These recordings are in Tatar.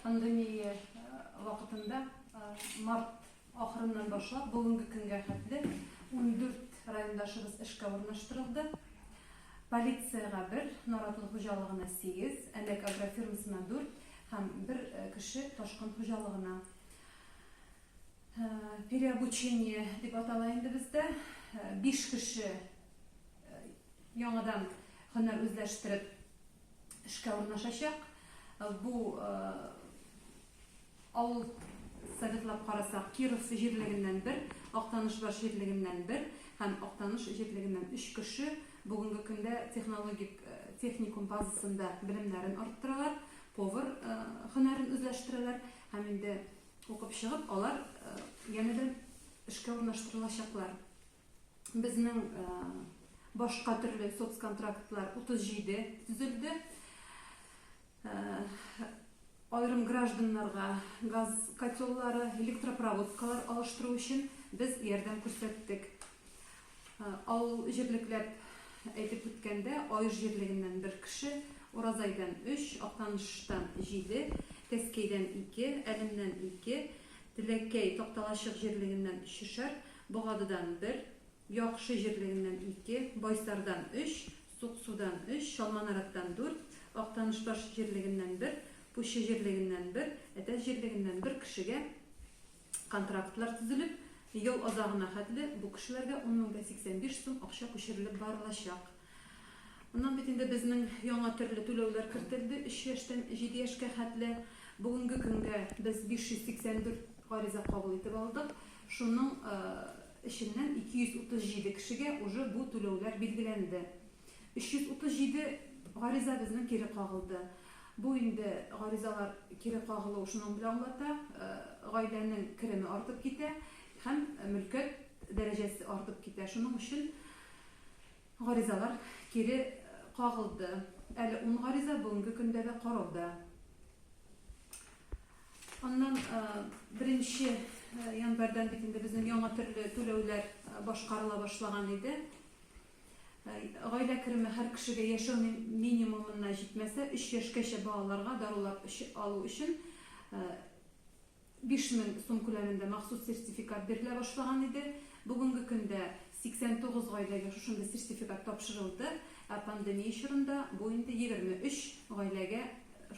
Пандемия вакытында март ахырыннан башлап бүгенге көнгә хәтле 14 райондашыбыз эшкә урнаштырылды. Полициягә бер, Наратлы хуҗалыгына 8, Әләк агрофирмасына 4 һәм бер кеше Ташкын хуҗалыгына. Переобучение дип атала инде бездә. 5 кеше яңадан һөнәр үзләштереп эшкә урнашачак. Бу авыл советлап карасак, Киров җирлегеннән бер, Актанышбаш җирлегеннән бер һәм Актаныш җирлегеннән өч кеше бүгенге көндә технологик техникум базасында белемнәрен арттыралар, повар һөнәрен үзләштерәләр һәм инде укып чыгып, алар янәдән эшкә урнаштырылачаклар. безнең башка төрле соцконтрактлар 37 төзелде. Айрым гражданнарга газ котеллары, электропроводкалар алыштыру өчен без ярдәм күрсәттек. Авыл җирлекләп әйтеп үткәндә, Аеш җирлегеннән бер кеше, Уразайдан 3, Актаныштан 7, Кәскәйдән 2, Әлемнән 2, Теләкәй, Такталачык җирлегеннән өчешәр, Богадыдан бер, Яхшы җирлегеннән ике, Байсардан өч, Суксудан өч, Чалманараттан дүрт, Актанышбаш җирлегеннән бер, Пуща җирлегеннән бер, Әтәч җирлегеннән бер кешегә контрактлар төзелеп, ел азагына хәтле бу кешеләргә ун мең дә сиксән биш сум акча күчерелеп барылачак. Моннан бит инде безнең яңа төрле түләүләр кертелде, өч яшьтән җиде яшькә хәтле. Бүгенге көнгә без 584 гариза кабул итеп алдык. Шуның эченнән 237 кешегә уже бу түләүләр билгеләнде. 337 гариза безнең кире кагылды. Бу инде гаризалар кире кагылу шуның белән аңлата, гаиләнең кереме артып китә һәм мөлкәт дәрәҗәсе артып китә. Шуның өчен Гаризалар кире кагылды. Әле ун гариза бүгенге көндә дә карауда. Аннан беренче январьдан бит инде безнең яңа төрле түләүләр башкарыла башлаган иде. Гаилә кереме һәр кешегә яшәү минимумына җитмәсә, 3 яшькәчә балаларга дарулар алу өчен Биш мең сум күләмендә махсус сертификат бирелә башлаган иде. Бүгенге көндә 89 гаиләгә шушындый сертификат тапшырылды, ә пандемия чорында бу инде 23 гаиләгә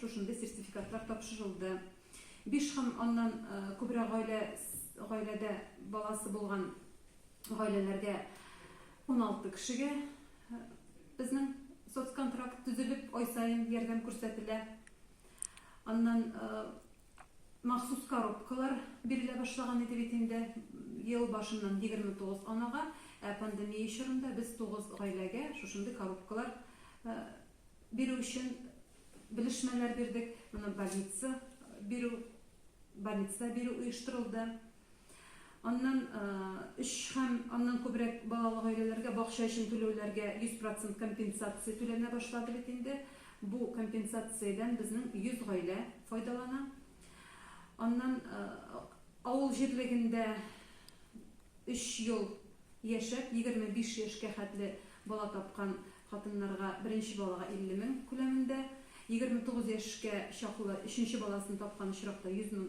шушындый сертификатлар тапшырылды. Биш һәм аннан күбрәк гаилә гаиләдә баласы булган гаиләләргә 16 кешегә безнең соцконтракт төзелеп, ай саен ярдәм күрсәтелә. Аннан Махсус коробкалар бирелә башлаган иде бит инде. Ел башыннан 29 анага, ә пандемия чорында без 9 гаиләгә шушындый коробкалар бирү өчен белешмәләр бирдек. Моны больница бирү, больницада бирү оештырылды. Аннан өч һәм аннан күбрәк балалы гаиләләргә бакча өчен түләүләргә 100 процент компенсация түләнә башлады бит инде. Бу компенсациядән безнең 100 гаилә файдалана. Аннан авыл җирлегендә өч ел яшәп, 25 яшькә хәтле бала тапкан хатыннарга беренче балага 50 мең күләмендә, 29 яшькә чаклы өченче баласын тапкан очракта 100 мең